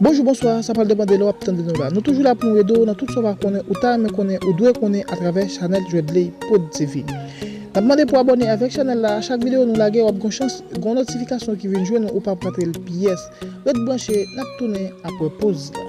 Bonjou bonswa sa pral depan de lè wap tande nou la nou toujou la poun ede w nan tout sa w pa konnen ou ta renmen konnen ou dwe konnen atravè chanèl Dredley prod TV nap mande pou abòne avèk chanèl la a chak videyo nou lage wap gon chans gon notifikasyon ki vin jwenn ou ou pap rate l pyès ret branche nap tounen aprè poz la.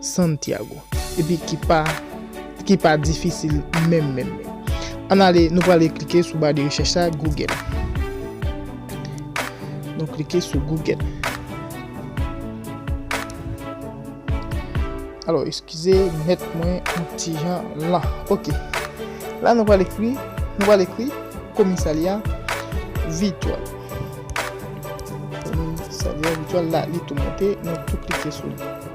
Santiago epi ki pa ki pa difisil menm menm menm. Ann ale nou prale klike sou ba de rechèch la Google. Nou klike sou Google. Alò eskize mèt mwen yon ti jan lan. Ok. La nou prale ekri, nou prale ekri komisalya vityòl. Komisalya vityòl la li tou monte, nou tou klike sou li.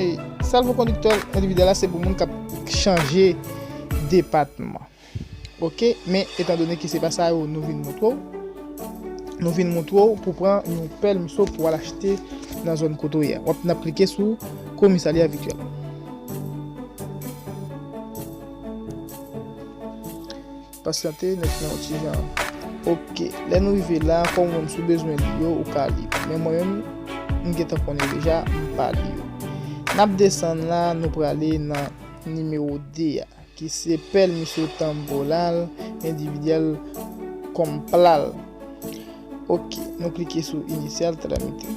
E salvo kondiktè endividyèl la se pou moun kap chanje depatman. Ok, men etan done ki se pa sa yo nou vin montre w, nou vin montre w pou pran yon pèl mso pou al achte nan zòn kote w ye. Wap nap klike sou komisarya vityèl. Pasyante, nèt nan yon ti jan. Ok, lè nou rive la, kòm ou menm si w bezwen li yo, ou ka li. Men mwen menm, m gentan konn yo deja, m pa li yo. N ap desann la, nou prale nan nimewo 2 a, ki se pèl misye tanbo la l, endividyèl kòm pla l. Ok, nou klike sou inisyal tramite.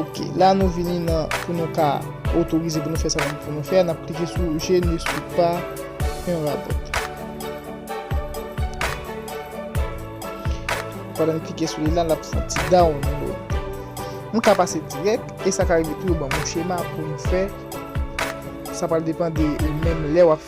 Ok, la nou vini nan pou nou ka otorize pou nou fè sa nan pou nou fè. N ap klike sou je ne sou pa yon rabot. Kwa nan klike sou li la, n ap fè ti down nou. M ka pase direk, e sa ka rive tou yo ban mou chema pou m fè. Sa pa depan de menm lè w ap.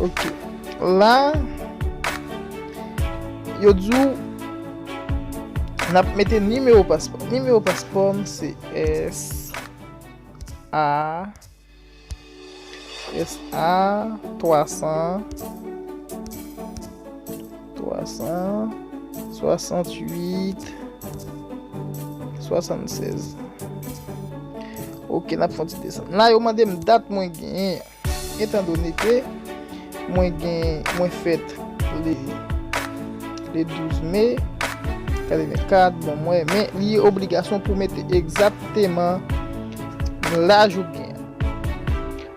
Ok La Yo djou Nap mete nimewo paspò Nimewo paspò m se S A S A 300 368 76 Ok, nap fon ti desan La yo mande m dat mwen gen Etan doni ke Mwen gen, mwen fet Le Le 12 me Kade men kat, bon mwen Men li obligasyon pou mete egzakteman Laj ou gen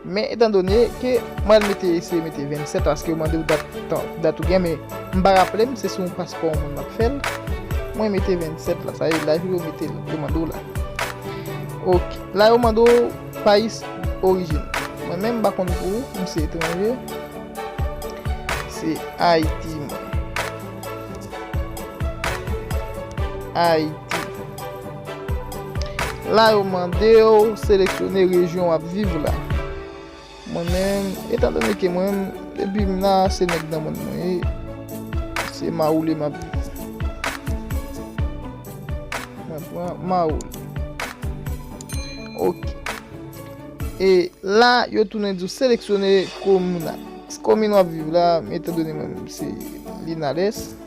Men etan done ke mwen al mete eseye mete 27 paske yo mandew dat tan dat ou gen men m pa raplem se sou yon paspò yon moun map fèl mwen mete 27 la sa ye laj ou yo metel yo mandew la ok la yo mande w pais orijin mwen menm m pa konn pou ou m se etranje se ayiti mwen ayiti. La yo mande w seleksyone rejyon w ap viv la. Mwen menm, etan done ke mwen menm, depi m la, se nèg Danmòd mwen ye, se Mawoule m ap viv. Mwen pran Mawoule. Ok. E la, yo tounen di w seleksyone komin la. Komin w ap viv la, etan done mwen menm se Linales.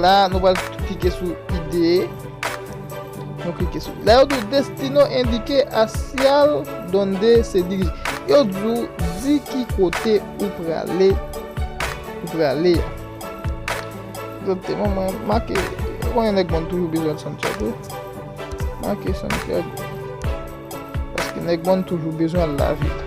La nou pral klike sou ide. Nou klike sou. La yo dou destino endike asyal donde se dirije. Yo dou di ki kote ou prale. Ou prale. Zote mwen mwen make. Mwen yon ek bon toujou bezwen Santiago. Make Santiago. Paske yon ek bon toujou bezwen la vit.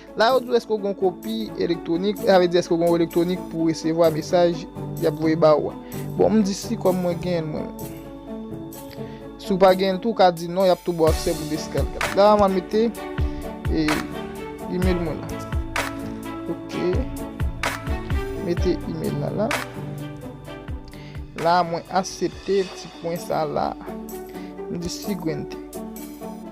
La yo di w eske w gen yon kopi elektwonik, sa vle di eske w gen yon elektwonik pou w resevwa mesaj y ap voye ba ou a. Bon, m di si kòm mwen genyen l mwen menm. Si w pa genyen l tou, w ka di non, y ap tou ba w aksè pou Descartes la. La a m a mete e email mwen la. Ok. Mete email la la. La a mwen asepte ti pwen sa la. M di siguiente.